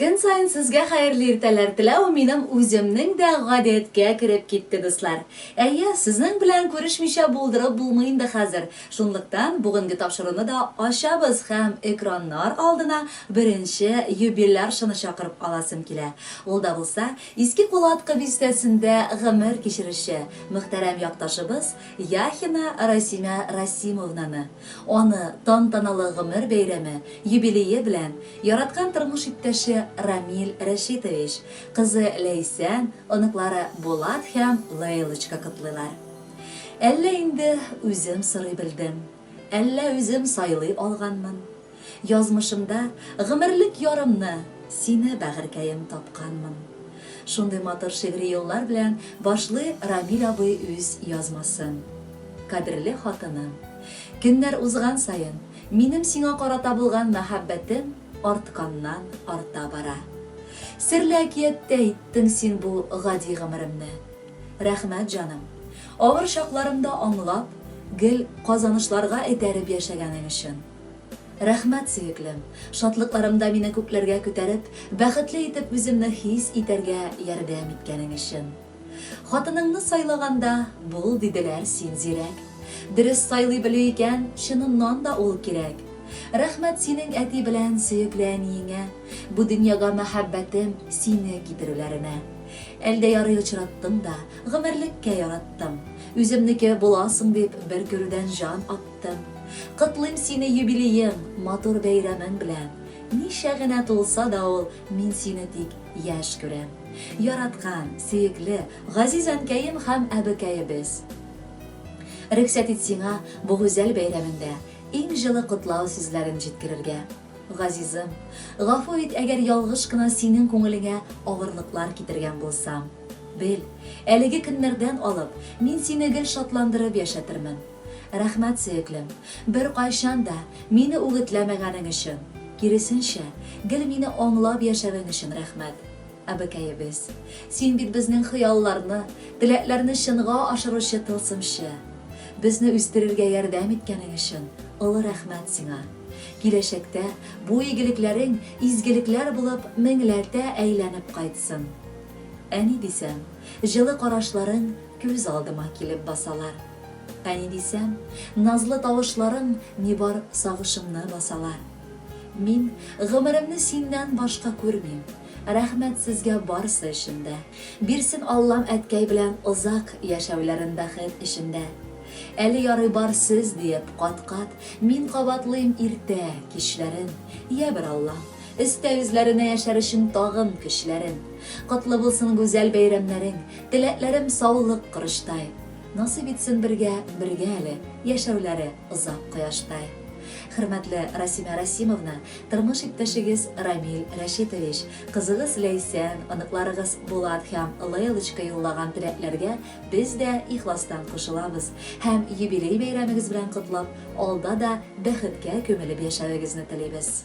Көн саен сезгә хәерле иртәләр теләү минем үземнең дә гадәткә кереп китте, дуслар. Әйе, сезнең белән күрешмичә булдырып булмый инде хәзер, шунлыктан бүгенге тапшыруны да ачабыз һәм экраннар алдына беренче юбиляршаны чакырып аласым килә. Ул да булса, Иске Кулаткы бистәсендә гомер кичерүче мөхтәрәм якташыбыз Яхина Расимә Расимовнаны. Аны тантаналы гомер бәйрәме, юбилее белән яраткан тормыш иптәше Рамил Рәшитович, кызы Ләйсән, оныклары Булат һәм Лейлочка котлыйлар. Әллә инде үзем сорый белдем, әллә үзем сайлый алганмын? Язмышымда гомерлек ярымны Сине бәгырькәем тапканмын. Шундый матур шигъри юллар белән башлый Рамил абый үз язмасын. Кадерле хатыным, көннәр узган саен, минем сиңа карата булган мәхәббәтем артканнан арта бара. Серле әкияттә иттең син бу гади гомеремне. Рәхмәт, җаным, авыр чакларымда аңлап, гел казанышларга этәреп яшәгәнең өчен. Рәхмәт, сөеклем! Шатлыкларымда мине күкләргә күтәреп, бәхетле итеп үземне хис итәргә ярдәм иткәнең өчен. Хатыныңны сайлаганда, бул, диделәр, син зирәк. Дөрес сайлый белү икән, чыныннан да ул кирәк. Рәхмәт синең әти белән сөекле әниеңә, бу дөньяга мәхәббәтем, сине китерүләренә. Әлдә ярый очраттым да, гомерлеккә яраттым. Үземнеке буласың дип, бер күрүдән җан аттым. Тым. Котлыйм сине юбилеең, матур бәйрәмең белән! Ничә генә тулса да ул, мин сине тик яшь күрәм. Яраткан, сөекле, газиз әнкәем һәм әбекәебез! Рөхсәт ит сиңа бу гүзәл бәйрәмеңдә иң җылы котлау сүзләрен җиткерергә. Газизым, гафу ит, әгәр ялгыш кына синең күңелеңә авырлыклар китергән булсам. Бел, әлеге көннәрдән алып, мин сине гел шатландырып яшәтермен. Рәхмәт, сөеклем, беркайчан да мине үгетләмәгәнең өчен, киресенчә, гел мине аңлап яшәвең өчен рәхмәт, әбекәебез. Син бит безнең хыялларны, теләкләрне чынга ашыручы тылсымчы. Безне үстерергә ярдәм иткәнең өчен олы рәхмәт сиңа. Киләчәктә бу игелекләрең изгелекләр булып меңләтә әйләнеп кайтсын. Әни дисәм, җылы карашларың күз алдыма килеп басалар. Әни дисәм, назлы тавышларың Нибар сагышымны басалар. Мин гомеремне синнән башка күрмим. Рәхмәт сезгә барсы өчен дә. Бирсен Аллам әткәй белән озак Яшәүләрен бәхет эчендә. Әле ярый бар сез диеп кат-кат Мин кабатлыйм иртә, кичләрен. Ябер Аллам, өстә үзләренә Яшәр өчен тагын көчләрен. Котлы булсын гүзәл бәйрәмнәрең, Теләкләрем саулык корычтай. Насыйп итсен бергә, бергә әле, яшәүләре озак кояштай. Хөрмәтле Расимә Расимовна, тормыш иптәшегез Рамил Рәшитович, кызыгыз Ләйсән, оныкларыгыз Булат һәм Лейлочка юллаган теләкләргә без дә ихластан кушылабыз һәм юбилей бәйрәмегез белән котлап, алда да бәхеткә күмелеп яшәвегезне телибез.